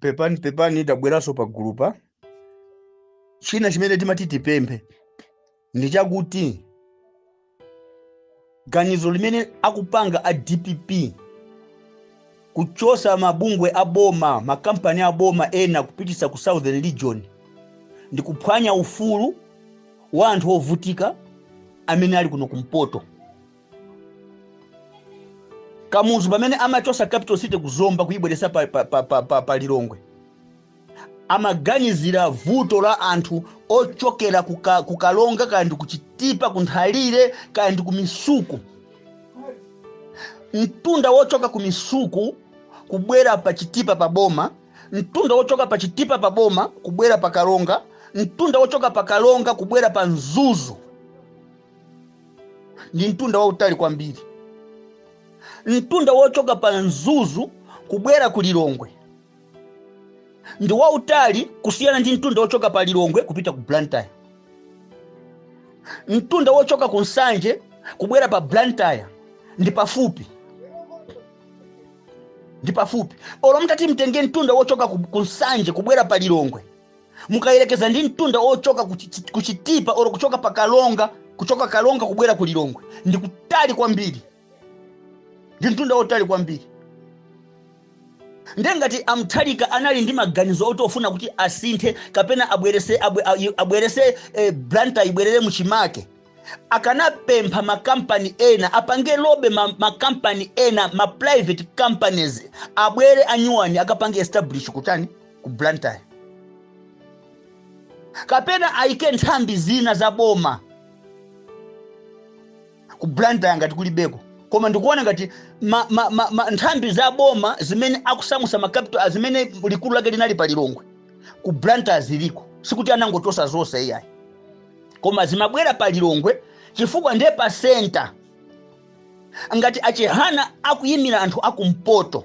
pepani pepani tabweranso pa gulu pa china chimene timati tipemphe ndi chakuti ganizo limene akupanga a dpp kuchosa mabungwe a boma makampani a boma ena kupitisa ku southern region ndi kuphwanya ufulu wa anthu ovutika amene ali kuno kumpoto kamuzu pamene amachosa capital city ku zomba kuyibweresa pa, pa, pa, pa, pa, pa lilongwe amaganizira vuto la anthu ochokera kuka, kukaronga kaya ndi kuchitipa kunthalire kaya ndi kumisuku mtunda wochoka kumisuku kubwera pa chitipa pa boma mtunda wochoka pa chitipa pa boma kubwera pa karonga mtunda wochoka pa karonga kubwera pa mzuzu ndi mtunda wautali kwambiri mtunda wochoka pa mzuzu kubwera ku lilongwe ndi wautali kusiyana ndi mtunda wochoka pa lilongwe kupita ku blantyre mtunda wochoka ku nsanje kubwera pa blantyre ndi pafupi ndi pafupi olo mutati mtenge mtunda wochoka ku ku nsanje kubwera pa lilongwe mukayerekeza ndi mtunda ochoka ku Chit- ku chitipa olo kuchoka pa karonga kuchoka karonga kubwera ku lilongwe ndi kutali kwambiri ndi mtunda otali kwambiri nde ngati a mutharika anali ndi maganizo oti ofuna kuti asinthe kapena abwerese abwe- ayi- abwerese eh, blantyre ibwerere muchimake akanapempha makampani ena apange lobby ma- makampani ena ma private companies abwere anyuwani akapange establish kutani ku Blantyre. Kapena aike nthambi zina za boma ku Blantyre ngati kulibeko. Koma ndikuona ngati ma, ma, ma, ma, nthambi za boma zimene akusamusa ma capital zimene likulu lake linali pa Lilongwe ku Blantyre ziliko. Sikuti anangochosa zonse iyayi. Koma zimabwera pa Lilongwe chifukwa ndiye pa center ngati achihana akuyimira anthu akumpoto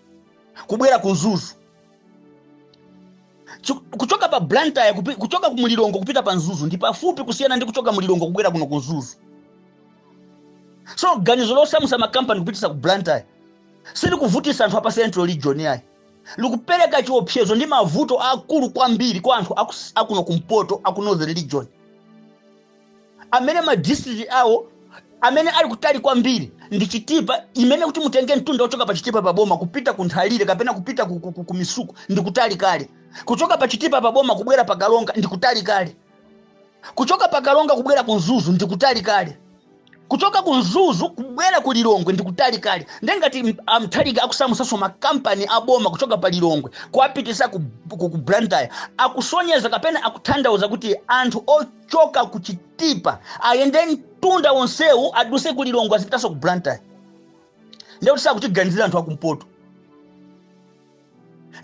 kubwera ku mzuzu Chu- kuchoka pa blantyre kupi- kuchoka ku lilongwe kupita pa mzuzu ndi pafupi kusiyana ndi kuchoka mu lilongwe kubwera kuno ku mzuzu so ganizo losamusa makampani kupitisa ku blantyre silikuvutisa anthu a pa central region yayi likupereka chiopsezo ndi mavuto akulu kwambiri kwa anthu aku- akuno kumpoto aku northern region amene ma district awo amene ali kutali kwambiri ndi chitipa imene kuti mutenge mtunda wochoka pa chitipa pa boma kupita ku nthalire kapena kupita ku, ku, ku, ku misuku ndi kutali kale kuchoka pa chitipa pa boma kubwera pa kalonga ndi kutali kale kuchoka pa kalonga kubwera ku mzuzu ndi kutali kale kuchoka ku mzuzu kubwera ku lilongwe ndi kutali kale nde ngati m- amutharika akusamusanso makampani aboma kuchoka pa lilongwe kuwapitisa ku, ku, ku blantyre akusonyeza kapena akutanthauza kuti anthu o- choka ku chitipa ayende mtunda wonsewu aduse ku lilongwe azipitanso ku blantyre ndiye kuti sakutiganizira anthu akumpoto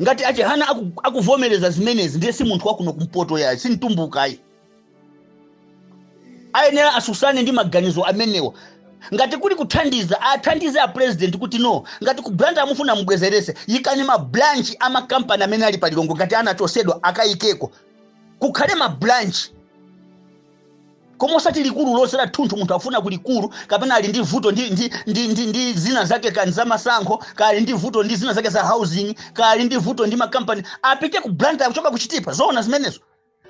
ngati achihana aku- akuvomereza zimenezi ndiye si munthu wakuno kumpoto yayi si mtumbukayi ayenera asusane ndi maganizo amenewa ngati kuli kuthandiza athandize a president kuti no ngati ku blantyre mufuna mubwezerese yikani mabranch amakampani amene ali pa lilongwe ngati anachosedwa akayikeko kukhale ma branch koma osati likulu lonse la thunthu munthu afuna ku likulu kapena ali ndi vuto ndi, ndi, ndi, ndi, ndi zina zake kaya za masankho kali ndi vuto ndi zina zake za housing kaya ali ndi vuto ndi makampani apite ku blantyre kuchoka kuchitipa zoona zimenezo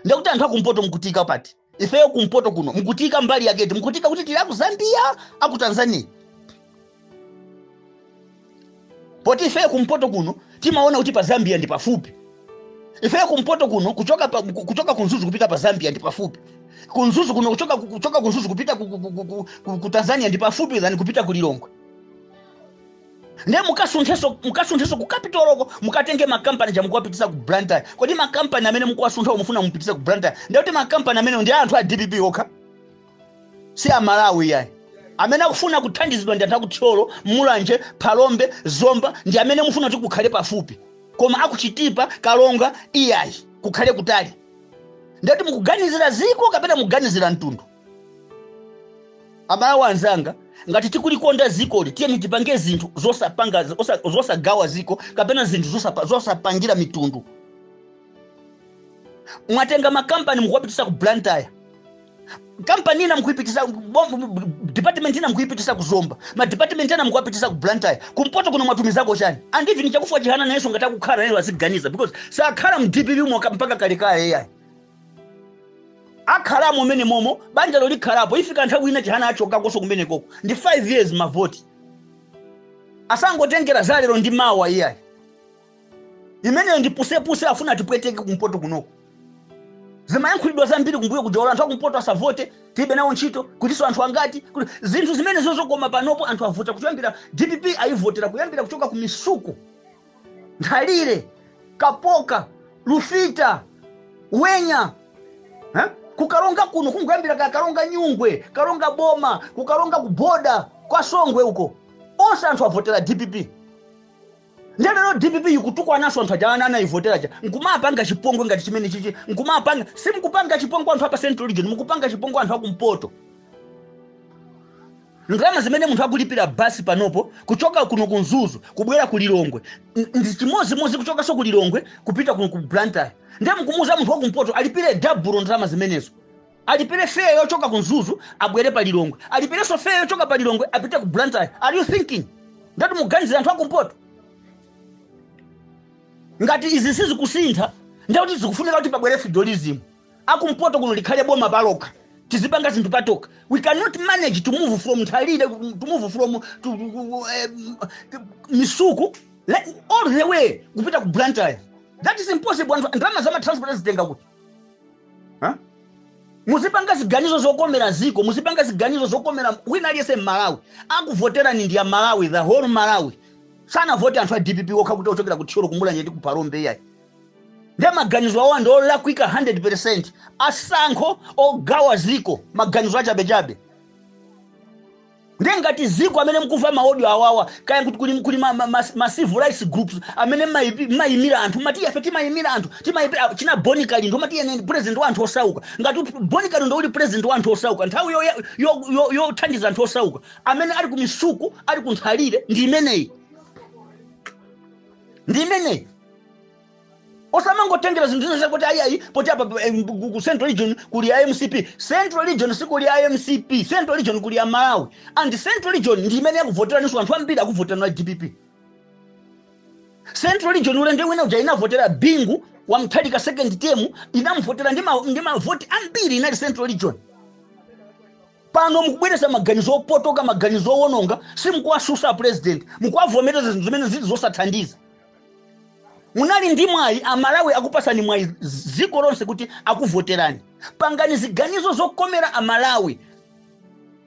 ndiye kuti anthu akumpoto mukutiika pati ifeyo kumpoto kuno mukutiika mbali yake iti mukutiika kuti tili aku zambia aku tanzania poti ifeyo kumpoto kuno timaona kuti pa zambia ndi pafupi ifeyo kumpoto kuno kuchoka, pa, ku- kuchoka kunzuzu kupita pa zambia ndi pafupi kunzuzu kuno kuchoka, kuchoka kunzuzu kupita ku, ku, ku, ku, ku, ku tanzania ndi pafupi than kupita ku lilongwe nde mukasunthenso mukasunthenso ku capitalko mukatenge makampani aja mukuwapitisa ku blantyre kodi makampani amene mukuwasunthawo mufuna mupitise ku blantyre nde kuti makampani amene ndi a anthu a dpp okha si amalawi yayi amene akufuna kuthandizidwa ndi anthu akuthyolo mulanje phalombe zomba ndi amene mufuna kuti kukhale pafupi koma akuchitipa kalonga iyayi kukhale kutali ndati mukuganizira ziko kapena mukuganizira mtundu amalawi anzanga ngati tikulikonda zikoli tiyeni tipange zinthu zosapanga zosa- zosagawa ziko kapena zinthu zosapa- zosapangira mitundu mwatenga makampani mukuwapitisa ku blantyre kampani ina mukuipitisa bom- department ina mukuipitisa ku zomba madepartment ena mukuwapitisa ku blantyre kumpoto kuno mwatumizako chani and even chakufa chihana nayenso ngati akukhala nayenso aziganiza because sakhala mu dpp moka mpaka kalekale iyayi akhalamo mmene momo banjalo likhalapo ifika nthawi ina chihana achokakonso kumene koko ndi 5 years mavoti asangotengera za lero ndi mawa iyayi imeneyo ndi pusepuse afuna atipweteke kumpoto kunoko zimayankhulidwa zambiri kumbuyo kuja olo anthu akumpoto asavote tilibe nawo ntchito kutinso anthu angati kuti zinthu zimenezo zokoma panopo anthu avota kuyambira dpp ayivotera kuyambira kuchoka ku misuku Nthalire, Kapoka, Lufita, Wenya eh? ku Karonga kuno kuyambira kaya Karonga Nyungwe Karonga boma ku Karonga kuboda kwa Songwe uko onse anthu avotera dpp nde lero dpp ikutukwananso anthu aja ana anayivotera aja nkumapanga chipongwe ngati chimene chichi nkumapanga simukupanga chipongwe anthu apa central region mukupanga chipongwe anthu akumpoto Ndalama zimene munthu akulipira bus panopo kuchoka kuno ku Mzuzu kubwera ku Lilongwe n- ndi chimodzimodzi kuchokanso ku Lilongwe kupita kuno ku Blantyre. Ndiye mukumuuza munthu wa kumpoto alipire dabulo ndalama zimenezo. Alipire fare yochoka ku Mzuzu abwere pa Lilongwe. Alipirenso fare yochoka pa Lilongwe apite ku Blantyre. Are you thinking? Ndati muganizira anthu a kumpoto. Ngati izi sizikusintha, ndiye kuti zikufunika kuti pabwere federalism. akumpoto kuno likhale boma palokha tizipanga zinthu patokha we cannot manage to move from nthalire to move from to, um, misuku let, all the way kupita ku blantyre that is impossible anthu ndalama za matransport azitenga kuti Huh? muzipanga ziganizo zokomera dziko muzipanga ziganizo zokomera wina aliyense mmalawi akuvoterani ndi amalawi the whole malawi sanavote anthu a dpp okha kuti ochokera ku thyolo ku Mulanje ndi ku Phalombe iyayi nde maganizo awa ndi olakwika 100% atsankho ogawa dziko maganizo achabechabe nde ngati dziko amene mkuva maodio awawa kaya kuti kuli, kuli ma, ma, ma, ma civil rights groups amene maipi- mmayimira anthu mmati ife timayimira anthu timayimira china boni kalindo mmati ine ndi president wa anthu osauka ngati uti- boni kalindo uli president wa anthu osauka nthawi yothandiza yo, yo, yo yothandiza anthu osauka amene ali kumisuku ali kunthalire ndi imeneyi ndi imeneyi osamangotengera zinthu zina zakuti ayi ayi poti apa pa- em, ku ku central region kuli a mcp central region sikuli a mcp central region kuli a malawi and central region ndi imene yakuvoteraninso anthu ambiri akuvoterani a dpp central region ulendo wina uja inavotera bingu wa Mutharika second term inamuvotera ndi ma- ndi mavoti ambiri inali central region pano mukubweretsa maganizo opotoka maganizo owononga simukuwatsutsa president mukuwavomereza zinthu zimene zili zosathandiza munali ndi mwayi amalawi akupasani mwayi dziko lonse kuti akuvoterani pangani ziganizo zokomera amalawi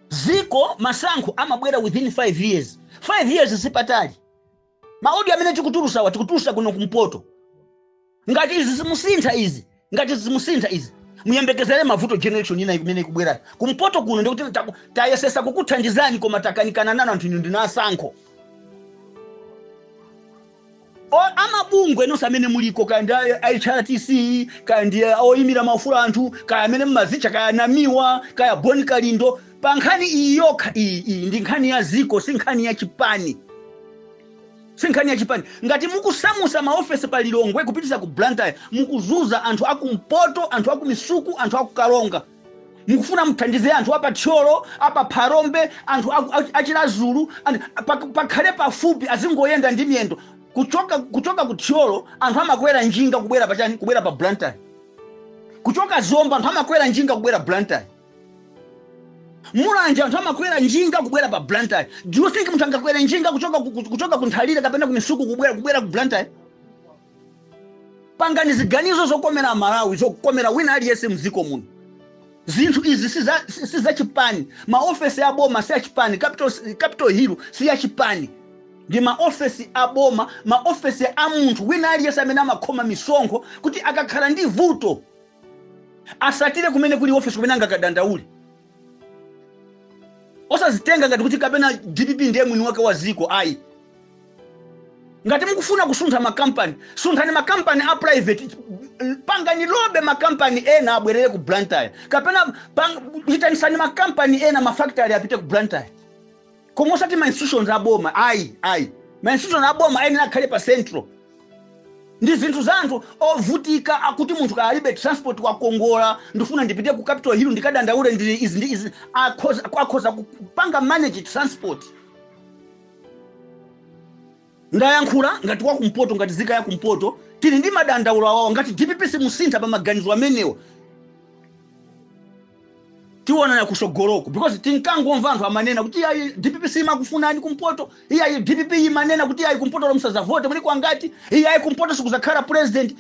dziko masankho amabwera within 5 years 5 years sipatali maodio amene tikutulutsawa tikutulutsa kuno kumpoto ngati izi simusintha izi ngati izi simusintha izi muyembekezere mavuto generation ina imene ikubwerayo kumpoto kuno ndikuti taku- tayesetsa kukuthandizani koma takanikana nanu anthu inu ndinu atsankho O- amabungwe nonse amene muliko kaya ndi a- a hrdc kaya ndi a- oyimira maufulu a anthu kaya amene mmadzitcha kaya namiwa kaya boni kalindo pa nkhani iyi yokha iyi iyi ndi nkhani ya dziko si nkhani ya chipani Sinkhani ya chipani. Ngati mukusamusa maofesi pa Lilongwe kupitisa ku Blantyre mukuzuza anthu aku mpoto, anthu aku misuku, anthu aku karonga. Mukufuna muthandize anthu apa Thyolo, apa Phalombe, anthu a Chilazulu pakhale pafupi azingoyenda ndi miyendo kuchoka ku Thyolo anthu amakwera njinga kubwera pa chani kubwera pa Blantyre. Kuchoka Zomba anthu amakwera njinga kubwera Blantyre. Mulanje anthu amakwera njinga kubwera pa Blantyre. Do you think munthu angakwere njinga kuchoka ku Nthalire kapena ku Misuku kubwera ku Blantyre? Pangani ziganizo zokomera Amalawi, zokomera wina aliyense mdziko muno. Zinthu izi si za chipani. Maofesi a boma si a chipani. Capital Hill si ya chipani. Ndi maofesi a boma, maofesi a munthu wina aliyense amene amakhoma misonkho kuti akakhala ndi vuto atsatire kumene kuli ofesi kumene angakadandaule osazitenga ngati kuti kapena dpp ndiye mwini wake wa ziko ayi ngati mukufuna kusuntha makampani sunthani makampani a private pangani lobby makampani ena abwerere ku blantyre kapena itanisani makampani ena mafactory apite ku blantyre koma osati ma institutions a boma ayi ayi ma institutions a boma ayenera akhale pa central ndi zinthu za anthu ovutika akuti munthu kaya alibe transport wakongola ndifuna ndipite ku capital hill ndikadandaule ndi izi ndi izi akhoza kupanga manage transport Ndayankhula ngati wa kumpoto ngati zika ya kumpoto tili ndi madandaulo amenewo ngati dpp simusintha pa maganizo amenewo tionana kusogoloko because tinkangomva anthu amanena kuti ayi dpp simakufunani kumpoto iyayi dpp imanena kuti ayi kumpoto lomsazavote muli kwangati iyayi kumpoto sikuzakhala president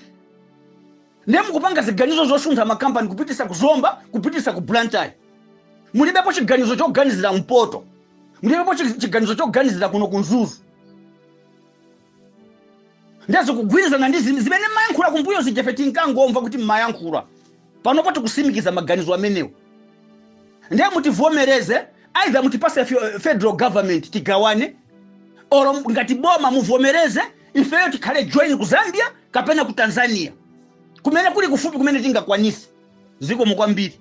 ndiye mukupanga ziganizo zosuntha makampani kupitisa ku zomba kupitisa ku blantyre mulibepo chiganizo choganizira mpoto mulibepo chiganizo choganizira kuno ku mzuzu ndiye zikugwirizana ndi zimene mmayankhula kumbuyo zija ife tinkangomva kuti mmayankhula panopo tikusimikiza maganizo amenewo ndiye mutivomereze either mutipase federal government tigawane oro ngati boma muvomereze ifeyo tikhale join ku zambia kapena ku tanzania kumene kuli kufupi kumene tingakwanise zikomo kwambiri